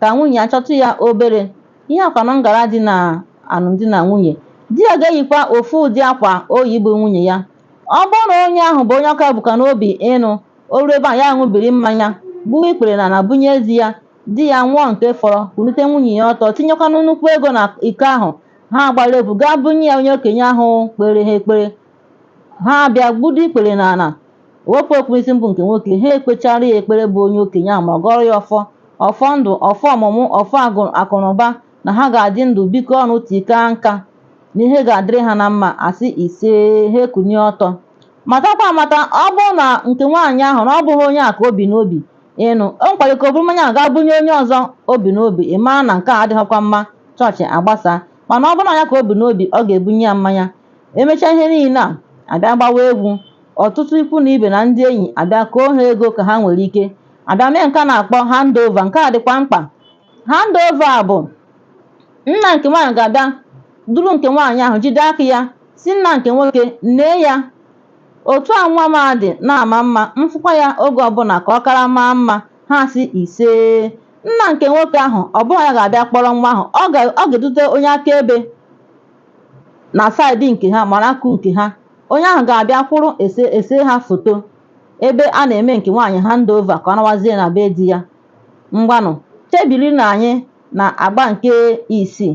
ka nwunye ya chọtụ ya obere ihe a kwanụ ngara dị na alụmdi na nwunye. Di ya ga-eyikwa ofu ụdị akwa o yi bụ nwunye ya. Ọ bụrụ na onye ahụ bụ onye ọ ka bukwa n'obi ịnụ, o ruo ebe a ya ṅụbiri mmanya, gbuo ikpere n'ala bunye di ya, di ya ṅụọ nke fọrọ, kulite nwunye ya ọtọ, tinyekwanụ nnukwu ego na iko ahụ, ha agbara egwu gaa bunye ya onye okenye ahụ kpere ha ekpere ha abịa gbudo ikpere n'ala wepụ okpu isi bụ nke nwoke ha ekpechara ya ekpere bụ onye okenye ahụ ma gọrọ ya ọfọ ọfọ ndụ ọfọ ọmụmụ ọfọ agụ- akụnụba na ha ga-adị ndụ bikọ ọnụ tii kaa nka na ihe ga-adịrị ha na mma a sị isee ha ekunie ọtọ matakwa amata ọ bụrụ na nke nwaanyị ahụ na ọ bụghị onye a ka o bu n'obi ịnụ o nwekwara ike o buru mmanya ahụ gaa bunye onye ọzọ o bu n'obi ị mara na nke a adịghịkwa mma chọọchị agbasa mana ọ bụrụ na ya ka o bu n'obi ọ ga-ebunye ya mmanya E mechaa ihe niile a, a bịa gbawa egwu. Ọtụtụ ikwu na ibe na ndị enyi abịa koo ha ego ka ha nwere ike. A bịa mee nke a na-akpọ hand over. Nke a dịkwa mkpa. Hand over a bụ nna nke nwaanyị ga-abịa duru nke nwaanyị ahụ jide aka ya sị nna nke nwoke nee ya otu a nwa m a dị na-ama mma m fụkwa ya oge ọbụla ka ọ kara maa mma ha asị isee nna nke nwoke ahụ ọ bụghị ya ga-abịa kpọrọ nwa ahụ ọ ga-edute onye akaebe na side nke ha mara akụ nke ha onye ahụ ga-abịa kwụrụ e see ha foto ebe a na-eme nke nwaanyị hand over ka ọ nawazie na be di ya ngwanụ chebiri na anyị na agba nke isii